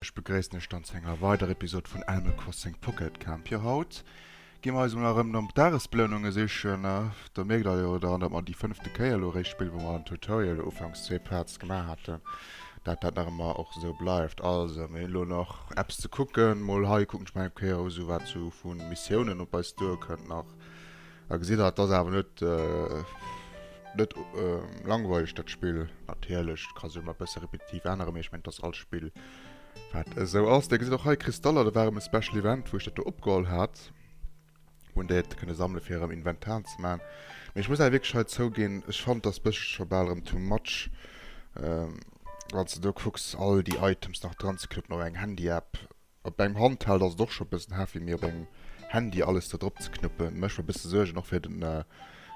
Ech begréissen iech dann zu enger weider Episode vun Animal Crossing Pocket Camp. Jo haut gi mer eis emol erëm nom Dagesbeloununge sichen. Der mierkt der jo dann, datt mer déi fënnefte Kéier elo eréischt spillen, wou mer am Tutorial ufanks zwee Parts gemaach haten, dat dat nach ëmmer och esou bleift. Also mir hunn elo nach eppes ze kucken, mol hei kucken ech mol eng Kéier esou wat esou vu Missiounen op eis duerkënnt nach. A gesitt der, et ass awer net, net langweileg, dat Spill. Natierlech ka se emol e bësse repetitiv änneren, mee ech mengen, et ass all Spill, wat esou ass. Dir gesitt och hei Kristaller, dat war erëm e Special Event, wou ech dat do opgeholl hat, wou een déi hätt kënne sammelen, fir erëm Inventar ze maachen. Mee ech muss awer wierklech hei zouginn, ech fannen, et ass e bëssche scho bal erëm too much, wann s de do kucks, all déi Items nach dran ze knëppen op engem Handy-App. Op engem Handheld ass et och scho bëssen heavy, mee op engem Handy alles do drop ze knuppen mécht mer bëssen Suergen, och fir den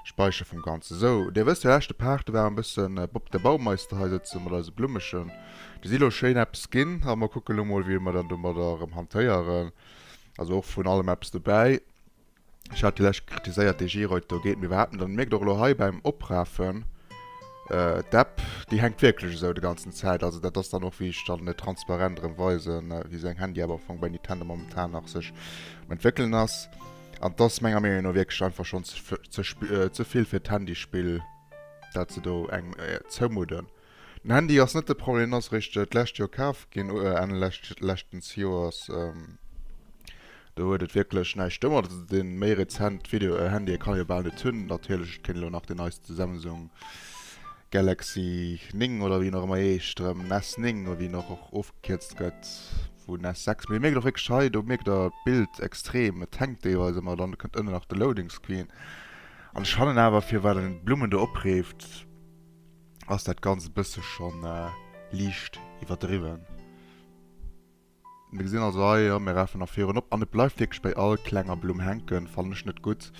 Speicher vum Ganzen. Sou, dir wësst jo leschte Part, do war en bëssen Bob der Baumeister hei sëtzen mat eise Blummegen. Déi si lo schéin eppes ginn a mer kucken lo mol wéi mer dann domadder erëm hantéieren. Also och vun allem eppes dobäi. Ech hat jo läscht kritiséiert dee Giroud do geet mir iwwerhaapt net an. Et mierkt och elo hei beim Oprafen d'App, déi hänkt wierklech esou de ganzen Zäit. Also dat ass dann och wéi ech dann et transparent erëm weisen, wéi seng Handy-App am Fong bei Nintendo momentan nach sech um entwéckelen ass. An et ass menger Meenung no wierklech einfach schonn ze vill fir d'Handy-Spill dat se do engem zoumudden. Den Handy ass net de Problem, en ass eréischt d'lescht Joer kaf ginn, Enn leschtens Joers. Do huet et wierklech näischt domadder ze dinn. Méi rezent Video-Handye kann ee jo bal net hunn. Natierlech, et kéint elo nach deen neiste Samsung Galaxy 9 oder wéi en och ëmmer heescht, erëm S 9 oder wéi en och och ofgekierzt gëtt vun S 6. Mee Dir mierkt och wierklech hei, do mierkt Der d'Bild extrem, et hänkt deelweis ëmmer, dann kënnt ënnen nach de Loading Screen. An ech fannen awer, firwat en d'Blummen do opreeft, ass dat ganz e bësse schonn liicht iwwerdriwwen. Mir gesinn also hei, jo, mir rafen nach virun op an et bleift wierklech bei all klenger Blumm hänken. Fannen ech net gutt.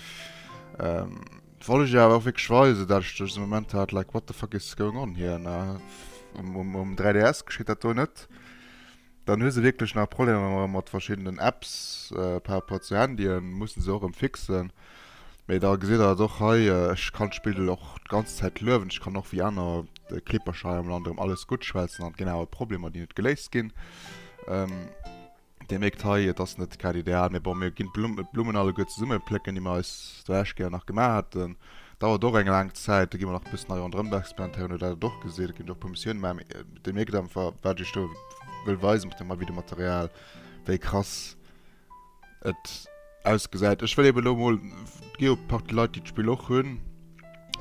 Wollt ech iech awer och wierklech weisen, dat ech dësen Moment hat, like, what the fuck is going on here, ne? Um 3DS geschitt dat do net. Dann hu se wierklech nach Problemer mat verschiddenen Apps par rapport zu Handyen, mussen se och erëm fixen. Mee da gesitt der et och hei, ech kann d'Spill do och d'ganz Zäit luewen, ech kann och wéi aner Kleepercher hei am Land erëm alles gutt schwätzen an et ginn awer Problemer déi net geléist ginn. Dir mierkt hei, et ass net grad ideal, mee bon mir ginn d'Blummen alleguer zesumme plécken déi mer eis do laanscht Kéier nach gemaach haten. Dauert och eng laang Zäit, do gi mer nach e bëssen hei ronderëm experimentéieren, no dat et och gesitt, et ginn och e puer Missioune gemaach. Dee mierkt einfach, wat ech do wëll weisen mat deem Videomaterial, wéi krass et ausgesäit. Ech wëll eben elo emol, et gi jo e Partie Leit, déi d'Spill och hunn.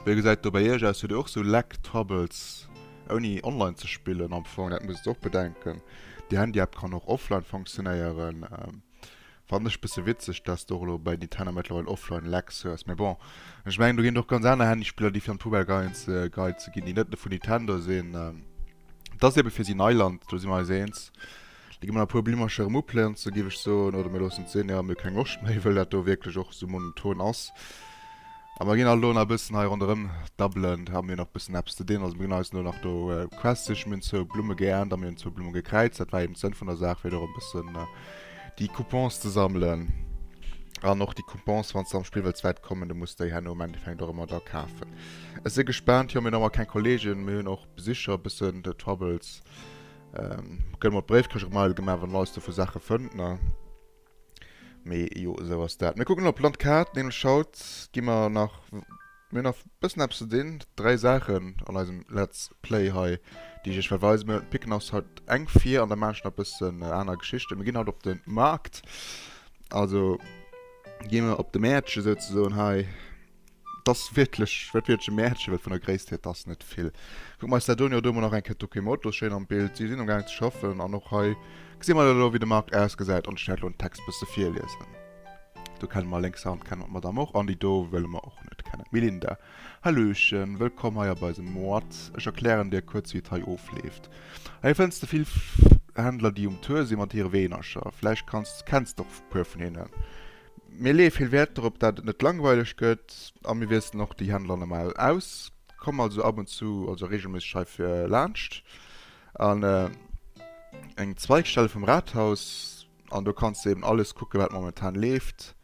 Wéi gesäit et do bei iech aus? Hutt dir och esou Lag Troubles, ouni online ze spillen am Fong? Dat musst et och bedenken. Déi Handy-App kann och offline funktionéieren. Fannen ech bësse witzeg dass de och elo bei Nintendo mëttlerweil offline Lags hues, mee bon ech mengen do ginn et och ganz aner Handyspiller déi fir an d'Poubelle geheit si ginn déi net vun Nintendo sinn. Et ass eben fir si Neiland, do si mer eis eens. Da gi mer nach e puer Blimmercher erëm uplenzen giff ech soen oder mir loossen et sinn, jo mir hu keng Loscht méi wëll dat do wierklech och sou monoton ass a mer ginn alt elo nach e bëssen hei ronderëm dabbelen a mir hu nach e bëssen eppes ze dinn. Also mir ginn eis elo nach do Quests sichen, mir hunn zwou Blumme geernt a mir hunn zwou Blumme gekräizt, dat war eben d'Sënn vun der Saach fir do erëm e bëssen déi Coupons ze sammelen an och déi Coupons, wann s de am Spill wëlls wäit kommen, da muss de déi herno am Endeffekt och ëmmer da kafen. Ech si gespaant. Jo, mir hunn ëmmer keng Kolleegen, mir hunn och Besicher, e bëssen de Troubles. Ähm, gëlle mer d'Bréifkëscht och mei gemaach, wann en eis do vu Saache fënnt, ne? Mee jo, esou ass dat. Mir kucken elo op d'Landkaart, nämlech haut gi mer nach. Mir hunn nach bëssen eppes ze dinn. Dräi Saachen an eisem Let's Play hei, déi ech iech well weisen. Mir picken eis haut eng vir an da maache ech nach bëssen aner Geschichten. Mir ginn haut op de Maart, also gi mir op de Mäertche souzesoen hei. Et ass wierklech, wäert wierklech e Mäertche, well vun der Gréisst hier, et ass net vill. Kucke mer eis dat un. Jo, do mar nach eng Kéier d'Okimotos schéin am Bild. Si sinn am Gaang ze schaffen an och hei gesi mer dann elo, wéi de Maart ausgesäit an ech wäert elo den Text bësse virliesen. Do kenne mer lénks Hand kenne mer d'Madame och an déi do wëlle mer och net kennen. Melinda, Hallöchen, wëllkomm hei a bei se Moat. Ech erklären dir kuerz wéi et hei ofleeft. Hei fënns de vill Händler déi um Tour si mat hire Weenercher. Vläicht kanns kenns de och e puer vun hinnen. Mir leeë vill Wäert dorop dat et net langweileg gëtt a mir wiesselen och déi Händler normal aus. Komm also ab und zu, also regelméisseg hei fir laanscht an eng Zweigstelle vum Rathaus. An do kanns de eben alles kucken, wat momentan leeft.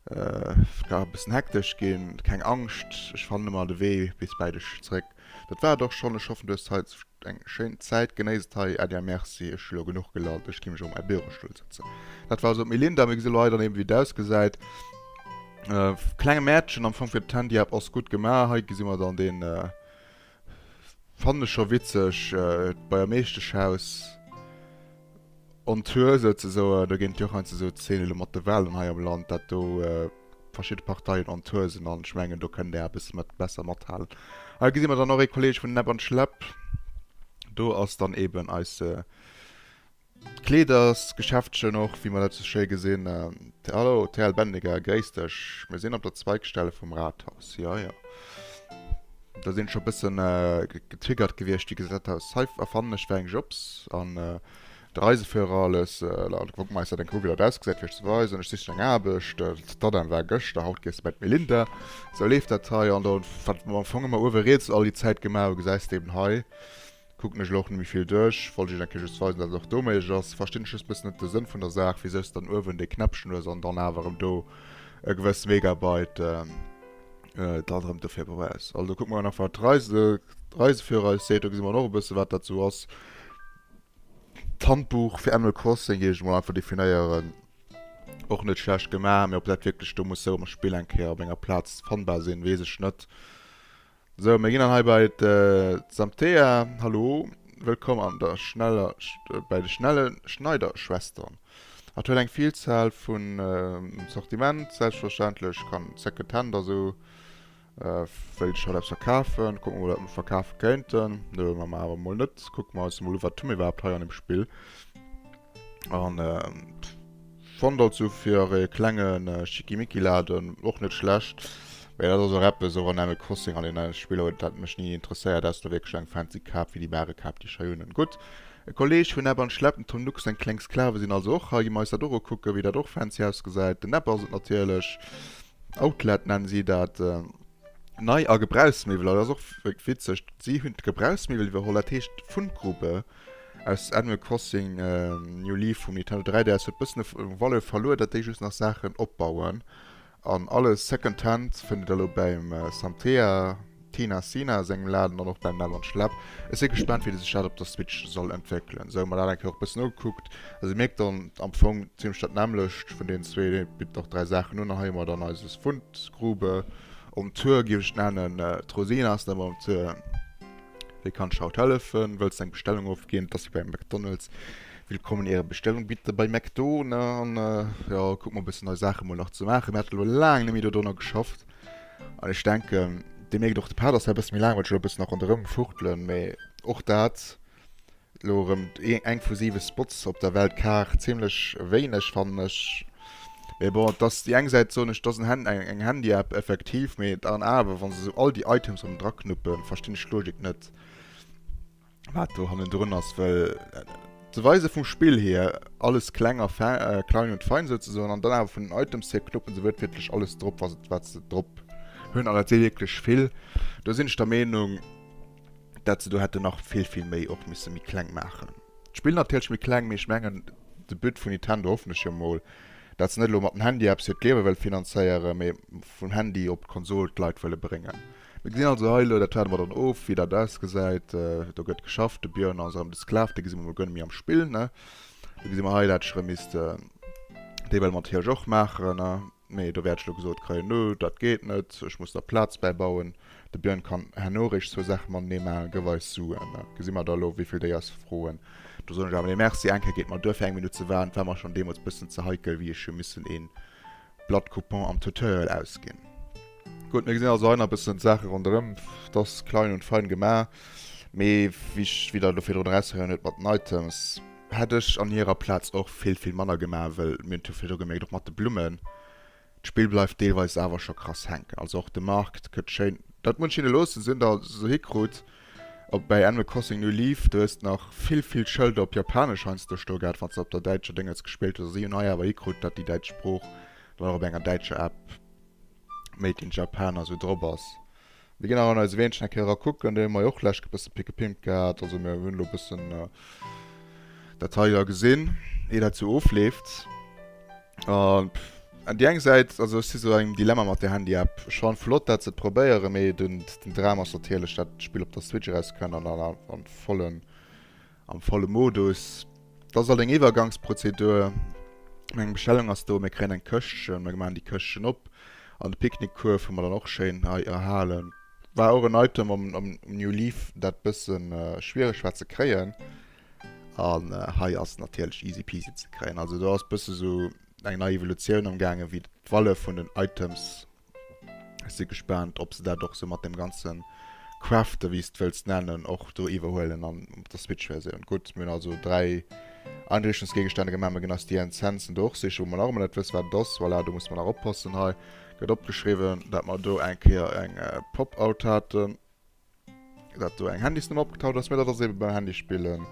Et ka e bëssen hektesch ginn, keng Angscht, ech fannen ëmmer de Wee bis bäi dech zeréck. Dat war et och schonn, ech hoffen du hues hei eng schéin Zäit, genéiss et hei. Adia, Merci, ech hu lo genuch gelallt, ech gi mech erëm a mäi Bürostull sëtzen. Dat war also d'Melinda, mir gesi lo hei dann eben wéi et ausgesäit. Klenge Mäertchen am Fong fir d'Handy-App ass gutt gemaach, hei gesi mer dann den. Fannen ech scho witzeg, d'Beier Meeschteschhaus on tour souzesoen, do ginn d'Joch eins esou d'Zeen elo mat de Wahlen hei am Land, dat do verschidde Parteien on tour sinn an ech mengen do kënnt där e bësse mat besser mathalen. Hei gesi mer dann och ee Kolleg vun Näpp an Schläpp, do ass dann eben eise. D'Kleedersgeschäftchen och, wéi mer dat esou schéi gesinn. Hallo, TL Bendiger, gréiss dech. Mir sinn op der Zweigstelle vum Rathaus. Jo, jo. Do sinn ech scho e bëssen getriggert gewiescht, wéi gesat hatt, hei erfannen ech fir eng Jobs. An de Reiseführer alles. Laut Wokmeister, denk elo, wéi dat ausgesäit, fir iech ze weisen. Ech sichen eng Aarbecht. D'Adam war gëschter, haut gees de bei d'Melinda. Esou leeft dat hei. An do, wat mer am Fong ëmmer uewe riets all déi Zäit gemaach hu, gesäis de eben hei. Kuckt mech elo och net méi vill duerch. Wollt iech eng Kéier just weisen dat et och do méiglech ass. Verstinn ech just bëssen net de Sënn vun der Saach wisou s dann uewen dee Knäppchen hues an dann awer erëm do e gewëss Megabyte dann erëm dofir brauchs. Also kucke mer nach wat d'Reise Reiseführer eis seet, do gesi mer dann och e bësse wat dat sou ass. D'Handbuch fir Animal Crossing géif ech emol einfach definéieren. Och net schlecht gemaach, mee ob dat wierklech do muss sou am Spill eng Kéier op enger Plaz fannbar sinn, weess ech net. Sou, mir ginn dann hei bei d'Samthea. Hallo, wëllkomm an der schneller, bei de schnelle Schneiderschwestern. Hatt huet eng Villzahl vu Sortiment, selbstverständlech kann Second Hand a sou wéilt ech haut eppes verkafen. Kucken mol wat mer verkafe kéinten. Nö, mach mer awer mol net. Kucke mer eis mol u wat hu mir iwwerhaapt hei an dem Spill. An fond dat sou fir e klengen Schickimicki Laden och net schlecht. Mee dat ass och eppes, och an Animal Crossing an den anere Spiller huet dat mech ni interesséiert. Auss der wierklech eng fancy Kap wéi déi bare Kap déi ech hei hunn. Gutt, e Kolleg vun Epp an Schlepp, den Tom Nook, seng kleng Sklave sinn also och hei. Gi mer eis dat och ukucken, wéi dat och fancy ausgesäit. Den Epp ass et natierlech. Outlet nennen si dat. Nei a Gebrauchsmiwwel, dat ass och witzeg, si hunn d'Gebrauchsmiwwel iwwerholl. Dat heescht Fundgrube. Aus Animal Crossing New Leaf vum Nintendo 3DS huet bëssen e Value verluer, dat déi just nach Saachen opbauen. An alles Second Hand fënnt dir da lo bäim Santea Tina Sina sengem Laden an och bäim Navon Schlapp. Ech si gespaant wéi sech dat op der Switch soll entwéckelen. Sou hu mer dat eng Kéier och bëssen ugekuckt. Also dir mierkt dann am Fong zimlech dat nämmlecht vun deenen zwee, dee bitt nach dräi Saachen un. An hei hu mer dann eise Fundgrube um Tour, géif ech et nennen. D'Rosina ass net méi um Tour. Wéi kann ech haut hellefen? Wëlls du eng Bestellung ofginn? Et ass wéi bei McDonald's. Willkommen in Ihrer Bestellung bitte bei McDo. Ne? An äh, ja, kuck mal bëssen nei Saache mol nach ze maachen. Mir hat lo laang nemmi do donnner geschafft. An ech denken, Dir mierkt och de Pad ass hei bësse méi laang, well ech lo bëssen nach ronderëm fuchtelen, mee och dat Elo erëm eng vu 7 Spots op der Weltkaart, zimlech wéineg fannen ech. Mee bon, et ass, déi eng Säit soen ech, et ass eng Handy-App effektiv, mee et an awer, wa se esou all déi Items erëm dra knuppen, verstinn ech d'Logik net, wat do hannendrun ass. Well ze weise vum Spill hier, alles kleng a fein, klein und fein souzesoen, an dann awer vun den Items hier knuppen se wuertwiertlech alles drop, wat se drop hunn, an dat si wierklech vill, do sinn ech der Meenung, dat se do hätte nach vill vill méi och misse méi kleng maachen. D'Spill natierlech méi kleng, mee ech mengen de But vun Nintendo, hoffen ech jo mol, dat se net elo mat dem Handy eppes fir d'Liewe wëlle finanzéieren, mee vum Handy op d'Konsol d'Leit wëlle bréngen. Mir gesinn also hei elo, dat waarde mer dann of, wéi dat ausgesäit. Do gëtt geschafft, de Björn ass erëm de Sklav, dee gesi mer mol guer net méi am Spill, ne? Do gesi mer hei, dat ech erëm misst déi well mat Hirsch och maachen, ne? Mee do wäert ech elo gesot kréien, No, dat geet net, ech muss der Plaz bäibauen. De Björn kann herno eréischt zwou Saache matenee maachen, Gëff eis Suen, da gesi mer da elo, wéi vill déi eis froen. Do soen ech awer, Nee, merci, eng Kéier gétt mer duer fir eng Minutt ze waarden. Et war mer schonn deemools e bëssen ze heikel, wéi ech hu missen ee Blatt Coupon am Tutorial ausginn. Gutt, mir gesinn also hei nach e bëssen d'Saache ronderëm, et ass klein und fein gemaach, mee wéi Der elo virdrun erausgeheiert hutt mat den Items, Hätt ech an hierer Plaatz och vill vill manner gemaach, wëll mir hunn et jo vläicht och gemierkt, och mat de Blummen, d'Spill bleift deelweis awer scho krass hänken. Also och de Markt gëtt schéin, dat muss ech hinne loossen, se hunn dat also hikrut. Op bäi Animal Crossing New Leaf, do hues de nach vill vill Schëlder op Japanesch heiansdo stoe gehat, wann s de op der däitscher Déngetz gespillt hues. Also si hunn hei awer hikrut, dat déi däitsch Sprooch dann och op enger däitscher App Made in Japan also drop ass. Mir gin nach an eise Weenchen eng Kéier era kucken, déi hun mer jo och lech e bëssen pickepimpt gehat, also mir hun lo e bëssen dat hei era gesin, ier dat sou ofleeft. An déi eng Säit, also ech si sou an engem Dilemma mat der Handy-App, ech fannen flott dat se et probéieren, mee den Dram ass natierlech dat d'Spill op der Switch eraus kënnt an dann am vollen Am volle Modus. Et ass alt eng Iwwergangsprozedur. Eng Bestellung ass do, mir kréien eng Këschtchen, mir maachen déi Këschtchen op an de Picknickkuerf hu mer dann och schéin hei erhalen. War och en Item am New Leaf, dat bësse schwiereg war ze kréien an hei ass natierlech easy peasy ze kréien. Also do ass bësse sou eng nei Evolutioun am gaangen, wéi d'Valle vun den Items Ech si gespaant, ob se dat och sou mat deem ganze Crafte, wéi s de wëlls nennen, och do iwwerhuelen an op der Switch-Versioun. Gutt, mir hunn also dräi Einrichtungsgegenstände gemaach. Mir ginn eis déi Incensen do och sichen, wou mer nach ëmmer net wësse wat et ass. Voilà, do musse mer nach oppassen. Hei gëtt opgeschriwwen, dat mer do eng Kéier eng Pop-Out haten. Dat do eng Handysnummer opgetaucht ass, mir dat ass eben beim Handy spillen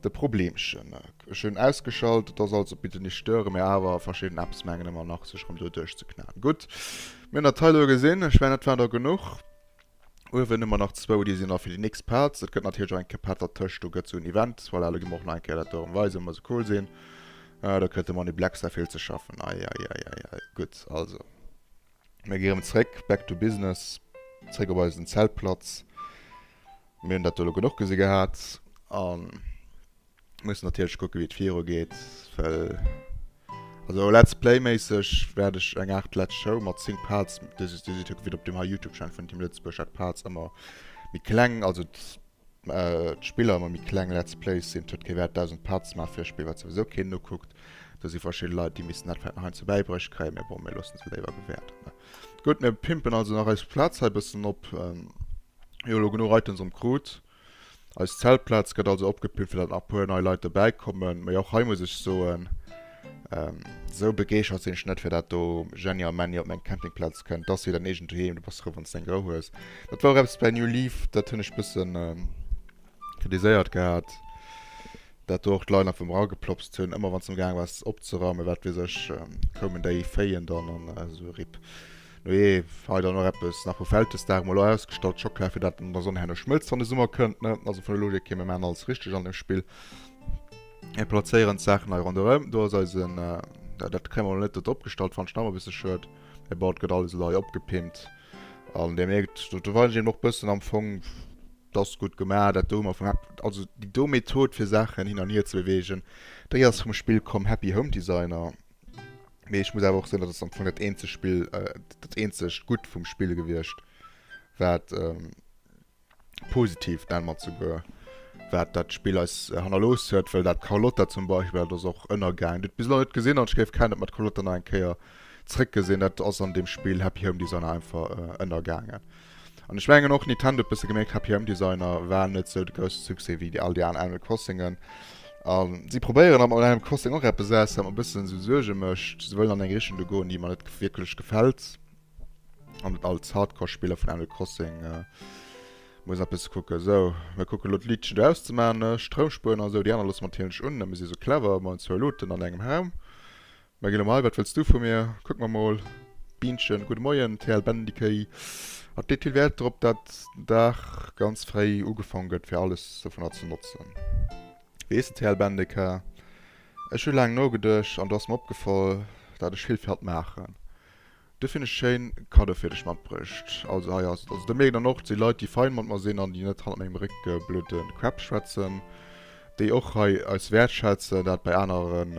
de Problemchen. Ech hunn ausgeschalt, et ass also bitte nicht stören, mä awer verschidden Apps mengen ëmmer nach sech rëm do duerchzeknäen. Gutt, mir hunn dat hei elo gesinn, ech mengen dat war der genuch. Uewen hu mer nach zwou, déi sinn nach fir déi nächst Parts. Et gëtt natierlech och eng Kéier Part dertëscht, do gëtt sou en Event, voilà, elo gi mer och nach eng Kéier dat do erëm weisen, wa se cool sinn. Ah, do kritt de Many Black Star vill ze schaffen, ei ei ei ei ei, gutt, also. Mir gi rëm zréck, back to business, zréck op eisen Zeltplatz. Mir hunn dat do elo genuch gesi gehat a mussen natierlech kucke wéi et virugeet, well also Let's Play méisseg wäert ech eng Aart Let's Show mat Think Parts, dee si, dee si, gëtt op deem hei Youtube Channel vun Team Lëtzebuerg hat d'Parts ëmmer méi kleng, also D'Spiller mat méi kleng Let's Plays sinn tot kee Wäert. Dausend Parts maache fir e Spill, wat souwisou keen ukuckt. Do si verschidde Leit, déi missten dat vläit nach heiansdo bäibruecht kréien, mä bon, mir loosse se léiwer gewäerten. Gutt, mir pimpen also nach eis Plaz hei e bëssen op. Mir hu elo genuch Items am krut. Eis Zeltplaz gëtt also opgepimpt, fir datt nach e puer nei Leit dobäikommen. Mä och hei muss ech soen, Ähm, sou begeeschert sinn ech net fir dat do. Jenny a Männi op meng Campingplaz kënnt, dass si dein eegent Doheem, du bass frou, wann s de eng Rou hues. Dat war och eppes bei New Leaf, dat hunn ech bëssen ähm, kritiséiert gehat, dat do och d'Leit einfach ëmmer ageplopst hunn, ëmmer wann s de amgaang waars opzeraumen, wat weess ech, ähm, koumen déi Féien dann an esou, rip. Nujee, hei dann och eppes nach vu Vältesdag emol ausgestallt, Schockela, fir dat an der Sonn herno schmëlzt, wann de Summer kënnt, ne? Also vun der Logik hier, mir maachen alles richteg an deem Spill. Mir plazéieren d'Saachen hei ronderëm. Do ass eisen, äh, dat kréie mer net do drop gestallt, fannen ech nach e bësse schued. Mee bon, et gëtt alles elo hei opgepimpt. An Dir mierkt, do verweisen ech eben och e bëssen am Fong, dat ass gutt gemaach, dat do hu mer vum Hap-, also déi do Method fir Saachen hin an hier ze beweegen, déi ass vum Spill Come Happy Home Designer. Mee ech muss awer och soen, dat ass am Fong dat eenzegt Spill, äh, dat eenzegt Gutt vum Spill gewiescht, wat, ähm, positiv dat mat souguer wat dat Spill eis hannerlooss huet, well dat Carlotta zum Beispill, dat ass och ënnergaangen. Du huet bis elo net gesinn an ech géif gär net mat Carlotta nach eng Kéier zréck gesinn. Dat ass an deem Spill Happy Home Designer einfach ënnergaangen. An ech mengen och Nintendo huet bësse gemierkt, Happy Home Designer war net sou de grousse Succès wéi déi all déi aner Animal Crossingen. A si probéieren awer mat Animal Crossing och eppes aus, wat mer e bëssen esou Suerge mécht. Si wëllen an eng Richtung do goen, déi mer net wierklech gefält. An et als Hardcore Spiller vun Animal Crossing äh, muss eppes kucken. So, mir kucken lo d'Liedchen do auszemaachen, ne? Stroumspueren an sou, déi aner loosse mer natierlech un, ne? Mir si sou clever, mer hunn zwou Luuten an engem Raum. Mä ginn elo, wat wëlls du vu mir? Kucken mer mol. Bienchen, gudde Moien, TL Bendikéi. Et leet vill Wäert drop, dat den Dag ganz fréi ugefaange gëtt, fir alles dovunner ze notzen. Weess de, TL Bendiker, ech hu laang nogeduecht an do ass mer opgefall, dat ech vill fir hatt maachen. Dofir hunn ech schéin Cadeau fir dech matbruecht. Also hei ass, also do mierkt een dann och, et si Leit déi fein mat mer sinn an déi net hannert mengem Réck blöde Crap schwätzen, déi och hei eis wäertschätzen, dat bei aneren,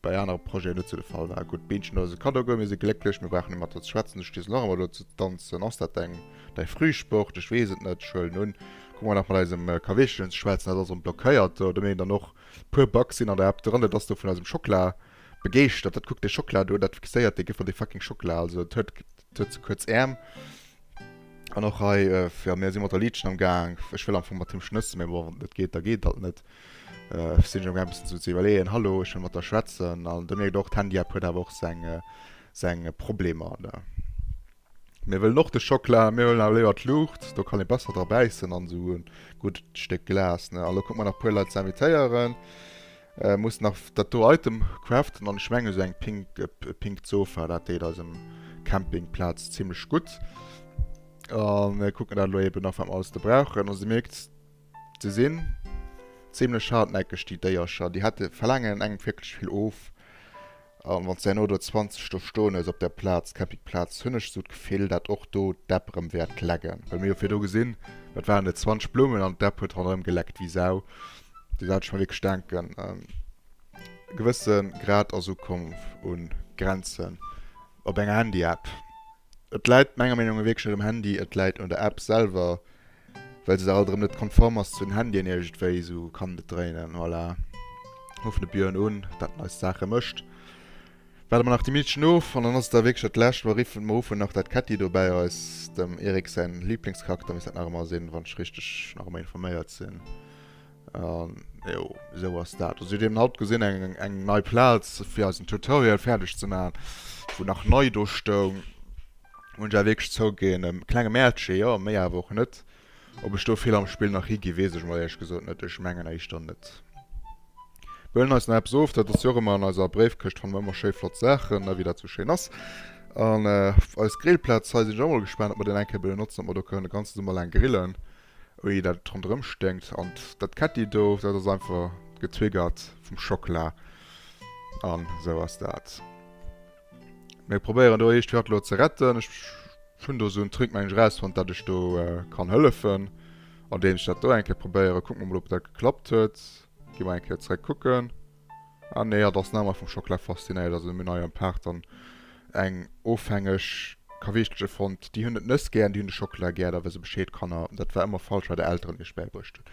bei anere Projeten net sou de Fall war. Gutt, d'Bienchen huet eis e Cadeau gëtt, mir si glécklech, mir brauchen net mat der ze schwätzen, du stees nach ëmmer do ze danzen, ass dat deng, däi Frühsport, ech weess et net, ech huelen un, kuck mol nach mat eisem Kaweechelchen ze schwätzen, dat ass erëm blockéiert do, do mierkt een dann och, e puer Bugs sinn an der App dran, dat ass do vun eisem Schokla, Begeeschtert, dat kuck dei Schockela do, dat fixéiert dei Gefill, dei fucking Schockela, also et huet et huet ze kuerz Äerm an och hei jo mir si mat der Liedchen am gaang, ech wëll am Fong mat him schnëssen, mee bon wann et net geet da geet dat net, sinn ech am gaang e bëssen ze iwwerleeën, hallo ech wëll mat der schwätzen an da mierkt och d'Handy-App huet awer och seng seng Problemer an der. Mir wëllen och de Schockela, mir wëllen awer léiwer d'Luucht, do kann ee besser dra bäissen an esou e gutt Stéck Glas, ne, an elo kucke mer nach e puer Leit ze invitéieren. Muss nach dat do Item craften an ech mengen esou eng pink Sofa dat deet eisem Camping Platz zimlech gutt. An kucken dat elo eben nach wat mer alles do brauchen. Also dir mierkt se sinn zimlech hartnäckeg déi Déiercher. Déi hätte verlaangen engem wierklech vill of. An wann s de herno do 20 do stoen hues op der Plaz, Campingplaz, hunn ech esou d'Gefill, dat och do d'Däpp erëm wäert lecken. Well mir hu virdu gesinn, wat waren et, 20 Bloumen an d'Däpp huet ronderëm geleckt wéi Sau. Do hat ech mer wierklech denken, e gewësse Grad ass ukomm un Grenzen op enger Handyapp. Et läit menger Meenung no wierklech net um Handy, et läit un der App selwer. well se da alt erëm net konform ass zu den Handyen iergendwéi, esou kann et net dréinen, voilà, ruffen de Björn un, dat en eis Saache mécht, waarde mer nach déi Meedchen of an dann ass et da wierklech dat Lescht, mer ruffen nach dat Ketti do bäi eis, dem Erik säin Liblingscharakter misst dat nach ëmmer sinn, wann ech richteg nach ëmmer informéiert sinn. An jo, esou ass dat. Also dir hutt eben haut gesinn eng eng eng nei Plaz fir eisen Tutorial fäerdeg ze maachen, wou nach nei do stoung. Hunn ech awer wierklech zouginn, e klenge Mäertche jo, méi awer och net. Ob ech do vill am Spill nach hi gi weess ech mol éierlech gesot net, ech mengen éischter net. Mir huelen eis nach eppes of, dat ass jo och ëmmer an eiser Bréifkëscht fannen mer ëmmer schéi flott Saachen ne, wéi dat sou schéin ass. An eis Grillplaz hei sinn ech och mol gespaant, ob mer deen eng Kéier benotzen, ob mer do kënnen de ganze Summer laang grillen. Ui dat ronderem sténkt an dat ketti do dat ass einfach getriggert vum Schockela an esou ass dat. Mir probéieren do eescht grad lo ze retten. Ech hunn do sou en Trick mengen ech rausfonnt dat ech do kann hëllefen andeems ech dat do eng Kéier probéieren. Kucken mer mol op dat geklappt huet. Gi mer eng Kéier zeréck kucken. Ah nee, hatt ass name vum Schokla faszinéiert. Also mir hun hei am Park dann eng ofhängeg Kaweechteche fonnt. Déi hun et nëss gären, déi hun de Schokla gär, da wësse Bescheed Kanner. Dat war ëmmer falsch, wat är Elteren iech bäibruecht hun.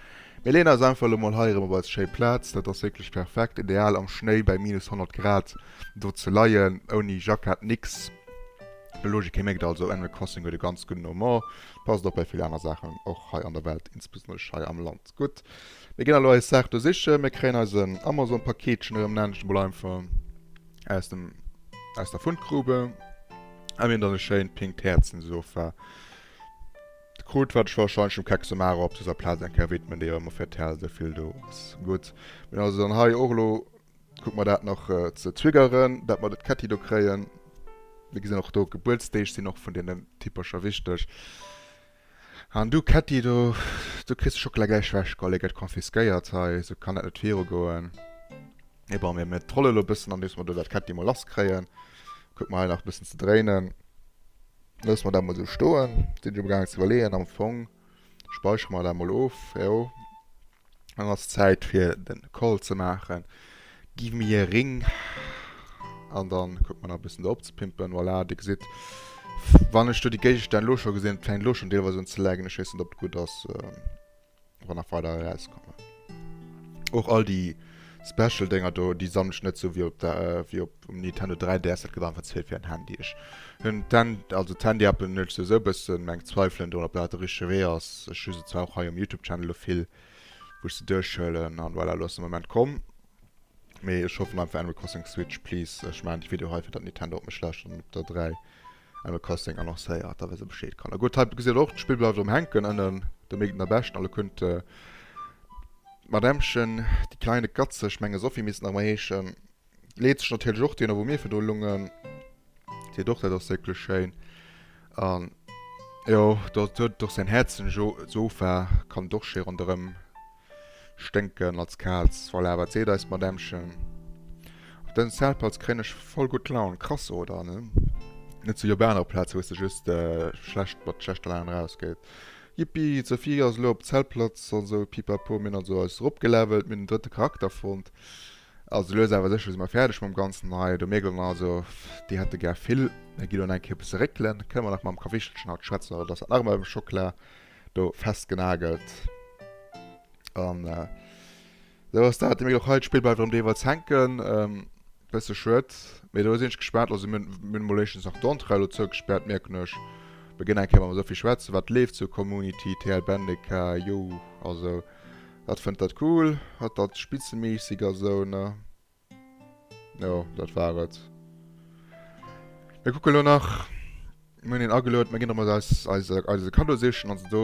Mir leeën eis einfach elo mol hei erëm op eis schéi Plaz. Dat ass wierklech perfekt, ideal am Schnéi bäi minus 100 Grad do ze leien, ouni Jackett, nix. Logik, hie mierkt also, Animal Crossing huet e ganz gudden Humor, passt och bei vill aner Saachen, och hei an der Welt, insbesonnerlech hei am Land. Gutt, mir ginn elo eis Saach do sichen. Mir kréien eis en Amazon-Paketchen erëm näischt emol einfach aus dem, aus der Fundgrube. A mir hunn dann e schéint pinkt Häerzen Sofa krut, wat ech warscheinlech dem Kekso Mara op dëser Plaz eng Kéier widmen, déi jo ëmmer fir d'Häerz esou vill do ass. Gutt, mir hunn also dann hei och elo, kucke mer dat nach ze triggeren, dat mer de Ketti do kréien. Mir gesinn och do, Gebuertsdeeg sinn och vun deenen Typercher wichteg. An du Ketti, do do kriss de Schockela gläich wech, gol, e gett confisquéiert hei, esou kann et net viru goen. Mee bon, mir trollen elo e bëssen andeems mer do dat Ketti mol lass kréien. Kuck mer hei nach e bëssen ze dréinen. Loosse mer dat mol esou stoen. Sinn ech amgaangen ze iwwerleeën, am Fong speicheren mer dat mol of, jo. Dann ass Zäit fir den Call ze maachen. Give me a ring. An dann kucken mer nach e bëssen do opzepimpen. Voilà, dir gesitt, wann ech do déi Géigestänn elo scho gesinn, fänkt elo schonn deelweis un ze laggen. Ech weess net, ob et gutt ass, wa nach weider erauskommen. Och all déi Special Dénger do, déi sammele ech net sou wéi op der, wéi op. Um Nintendo 3DS, dat gëtt einfach ze vill fir en Handy. Ech hunn d'Han-, also d'Handy Apple nurged souwisou e bëssen, mä ech zweifelen drun, ob dat de richtege Wee ass. Ech hu se zwar och hei um Youtube Channel lo vill, wou ech se duerchhuelen, an voilà, elo ass de Moment komm. Mee ech hoffen einfach Animal Crossing Switch, please. Ech maachen déi Video hei, fir datt Nintendo op mech läscht an op der 3 Animal Crossing annoncéiert, da wësse Bescheed. Kanner, gutt, hei gesitt der och, d'Spill bleift erëm hänken ënnen, de Mégden der Bescht, an elo kënnt d'Madämmchen, die kleine Katze, ech menge Sophie misst nach emol heeschen, leet sech natierlech och deene wou mir virdu lungen, seet och dat ass wierklech schéin an jo dat huet och säin Häerzen, jo d'Sofa kann et och schéi ronderëm sténken als Kaz, voilà wat seet eist Madämmchen, op dësem Zeltplatz kréien ech voll gutt Laun, krass oder, ne? Net esou wéi op anere Plaze wou s de just schlecht mat schlechter Laun eraus geet, Jippi d'Sophie ass elo op Zeltplatz an esou pipapo, mir hunn also eis eropgelevelt, mir hunn den drëtte Charakter fonnt. Also lues awer sécher si mer fäerdeg mam Ganzen hei. Do mierkt een also, déi hätte gär vill. Hei ginn et eng Kéier e bësse réckelen. Kënne mer nach mam Kawichtelchen haut schwätzen oder dass dat nach emol mam Schokla do festgenagelt. An esou ass dat. Dir mierkt och hei, d'Spill bleift erëm deelweis hänken. Bësse schued, mee do sinn ech gespaant. Also mir hunn emol éischtens nach d'Entrée elo zougespaart, mierken ech. Mir ginn eng Kéier mam Sophie schwätzen, wat leeft sou, Community, TL Bendeca, Youh, also Hat fënnt dat cool, hat dat spitzemässig a sou, ne? Jo, dat war et. Mir kucken elo nach. Mir hunn een agelueden, mir ginn erëm eise eise Kaddo sichen. Also do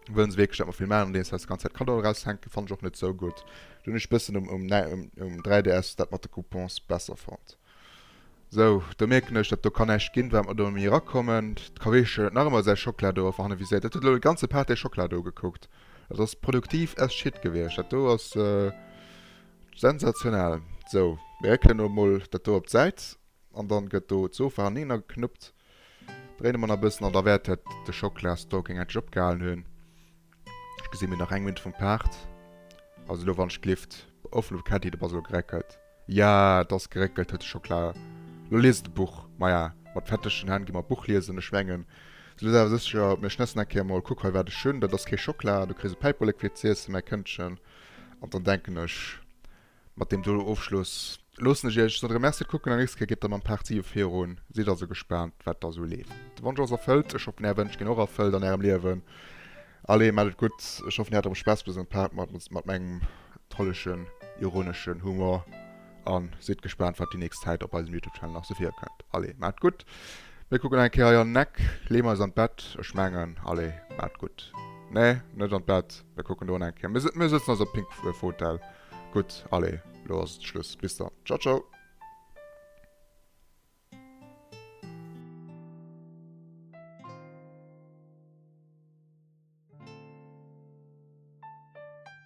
wëllen se wierklech, dat mer vill maachen, andeems se eis déi ganz Zäit Kaddoen eraushänken. Fannen ech och net sou gutt. Do hunn ech e bëssen um 3DS dat mat de Coupons besser fonnt. Sou, do mierken ech, datt do ka näischt ginn, wat mer do méi erakommen. D'Kaweeschen huet nach ëmmer säi Schokla do erfir hanne viséiert. Dat huet elo de ganze Pate Schokla do gekuckt. Dat ass produktiv as shit gewiescht. Dat do ass sensationell. Sou, mir réckelen elo emol dat do op d'Säit an da gëtt do d'Sofa hanneener geknuppt. Dréine mer nach e bëssen an da wäert de Schokla-Stalking endlech opgehalen hunn. Ech gesin mir nach eng Minute vum Part. Also lo wann ech glift offen op Ketti de Basel geréckelt. Ja et ass geréckelt huet de Schokla. Lo liest de Buch. Maja mat fetteschen Hänn gi mer Buch liesen. Ech mengen se liest awer secher op mir schnëssen eng Kéier mol. Kuck hei wat ech hun. Dat ass kee Schokla. Du kriss e Päiperlek fir z'iessen mäi Këndchen. An dann denken ech. Mat deem do Ofschluss loossen ech iech dann remerciert kucken an nächste Kéier geet et da mam Part 7 virun. Sidd also gespaant wat da sou leeft. De Wonsch ass erfëllt. Ech hoffen är Wënsch ginn och erfëllt an ärem Liewen. Allez, maacht et gutt. Ech hoffen dir hat erëm Spaass bei esou engem Part mat mengem trollegen, ironeschen Humor an sidd gespaant wat déi nächst Zäit op eisem Youtube Channel nach sou virkënnt. Allez, maacht gutt. Mir kucken nach eng Kéier hei an den Eck, leeën eis an d'Bett. Ech mengen, allez, maacht gutt. Nee, net an d'Bett. Mir kucken do eng Kéier. Mir sëtzen also op Pinkfotell. Gutt, allez, elo ass et Schluss. Bis dann. Ciao, ciao.